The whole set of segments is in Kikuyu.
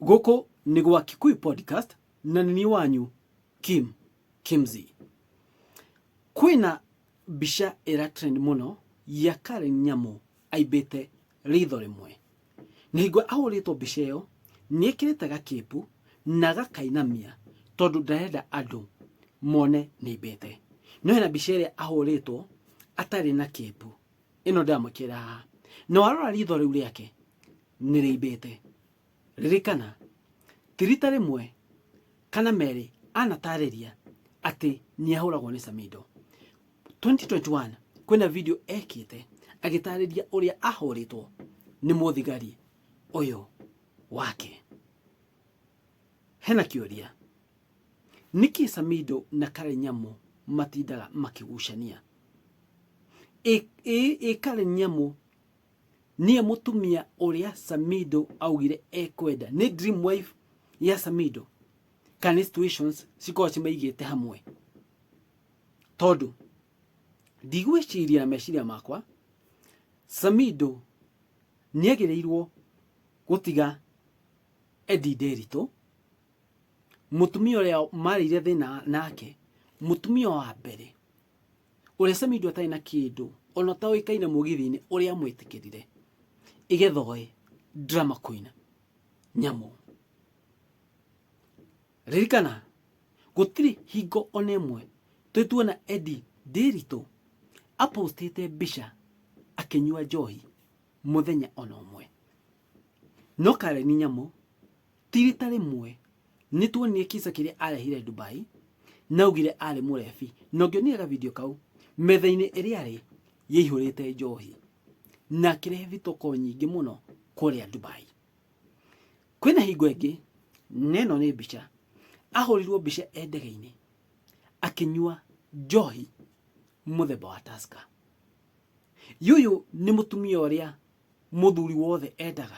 Gũkũ nĩ gwa Kikuyu Podcast na nĩ niĩ wanyu Kim Kimzi. Kwĩna mbica ĩra trend mũno ya Karen Nyamu aimbĩte ritho rĩmwe. Na hingo ahũrĩtwo mbica ĩyo nĩ ekĩrĩte gakĩpu na agakainamia tondũ ndarenda andũ mone nĩ aimbĩte. No hena mbica ĩrĩa ahũrĩtwo atarĩ na kĩpu. ĩno ndamwĩkĩra haha na warora ritho rĩu rĩake nĩ rĩimbĩte ririkana ti rita rĩmwe kana merĩ anatarĩria atĩ nĩ ahũragwo nĩ samido 2021 kwĩna video ekĩte agĩtarĩria ũrĩa ahũrĩtwo nĩ mũthigari ũyũ wake hena kĩũria nĩkĩ samido na kare nyamũ matindaga makĩgucania Ĩ- ĩ- ĩ kare nyamũ niye mũtumia ũrĩa samido augire ekwenda nĩ dream wife ya samido kana nĩ situations cikorwo cimaigĩte hamwe tondũ ndigwĩciria na meciria makwa samido nĩagĩrĩirwo gũtiga Eddie Nderitũ mũtumia ũrĩa marĩire thĩna nake mũtumia wa mbere ũrĩa samido atarĩ na kĩndũ ona ũtaũĩkaine mũgithi-inĩ ũrĩa amwĩtĩkĩrire igetha oe drama queen nyamũ ririkana gũtirĩ hingo ona ĩmwe twĩtuona edi ndĩritũ apostĩte mbica akĩnyua njohi mũthenya ona ũmwe no kareni nyamũ Ti rita rĩmwe nĩ tuonire kisa kĩrĩa arehire Dubai na augire arĩ mũrebi na ũngĩonire ga video kau metha-inĩ ĩrĩa arĩ yaihũrĩte njohi na akĩrehe vitoko nyingĩ mũno kũrĩa Dubai. Kwĩna hingo ĩngĩ na ĩno nĩ mbica ahũrirwo mbica e ndege-inĩ akĩnyua njohi mũthemba wa Tusker. Yuyu nĩ mũtumia ũrĩa mũthuri wothe endaga.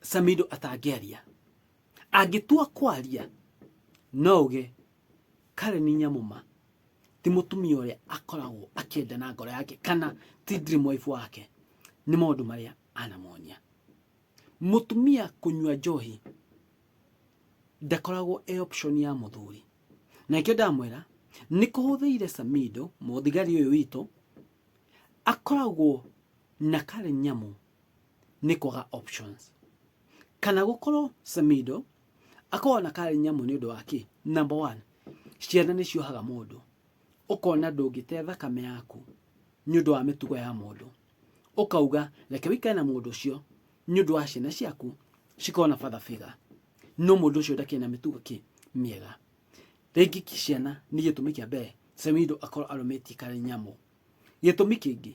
samido atangĩaria angĩtua kwaria no uge karen nyamũma ti mũtumia ũrĩa akoragwo akĩenda na ngoro yake kana ti dream wife wake nĩ maũndũ marĩa anamonia mũtumia kũnyua njohi ndakoragwo e option ya mũthuri na ikĩo ndamwĩra nĩ kũhũthĩire samido mũthigari ũyũ witũ akoragwo na karen nyamũ nĩ kwaga options kana gũkorwo Samido akorwo na karĩ nyamũ nĩ ũndũ wa kĩ number one ciana nĩ ciohaga mũndũ ũkona ndũngĩte thakame yaku nĩ ũndũ wa mĩtugo ya mũndũ ũkauga reke wĩkare na mũndũ ũcio nĩ ũndũ wa ciana ciaku cikorwo na father figure no mũndũ ũcio ndakĩrĩ na mĩtugo kĩ mĩega rĩngĩ ki- ciana nĩ gĩtũmi kĩa mbere Samido akorwo arũmĩtie karĩ nyamũ gĩtũmi kĩngĩ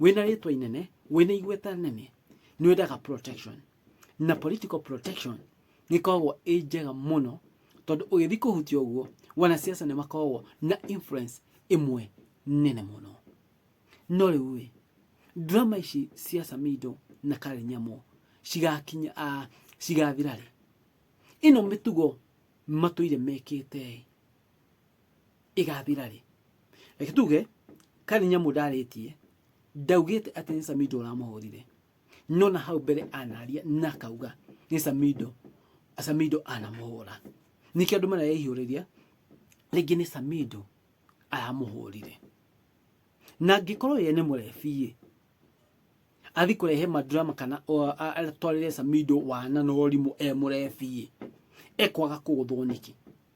wĩna rĩtwa inene wĩna igweta nene nĩ wendaga protection na political protection nĩ koragwo ĩ njega mũno tondũ ũgĩthiĩ kũhutia ũguo wanasiasa nĩ makoragwo na influence ĩmwe nene mũno no rĩu ĩ drama ici cia samido na karĩ nyamũ cigakinya a cigathira rĩ ĩno mĩtugo matũire mekĩte ĩ ĩgathira rĩ reke tuge kari nyamũ ndarĩtie ndaugĩte atĩ nĩ samido ũramũhũrire no na hau mbere anaria na akauga nĩ samido samido anamũhũra nĩkĩo andũ marareihũrĩria rĩngĩ nĩ samido aramũhũrire na angĩkorwo ye nĩ mũrebiĩ athi kũrehe madrama kana atwarĩre samido wana na ũrimũ e mũrebiĩ ekwaga kũgũthwo nĩkĩ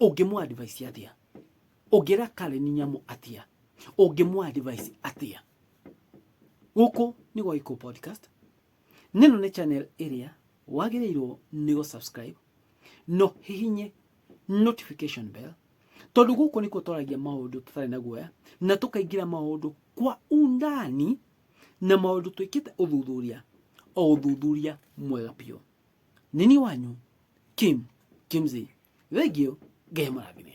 ũngĩmũ advise atĩa ũngĩra Karen nyamũ atĩa ũngĩmũ advise atĩa gũkũ nĩ gwa Iko podcast nĩno nĩ channel ĩrĩa wagĩrĩirwo nĩ go subscribe no hihinye notification bell tondũ gũkũ nĩkuo twaragia maũndũ tũtarĩ na guoya na tũkaingĩra maũndũ kwa undani na maũndũ twĩkĩte ũthuthuria o ũthuthuria mwega biũ nĩ niĩ wanyu Kim Kimzey thengio Ngai amũrathime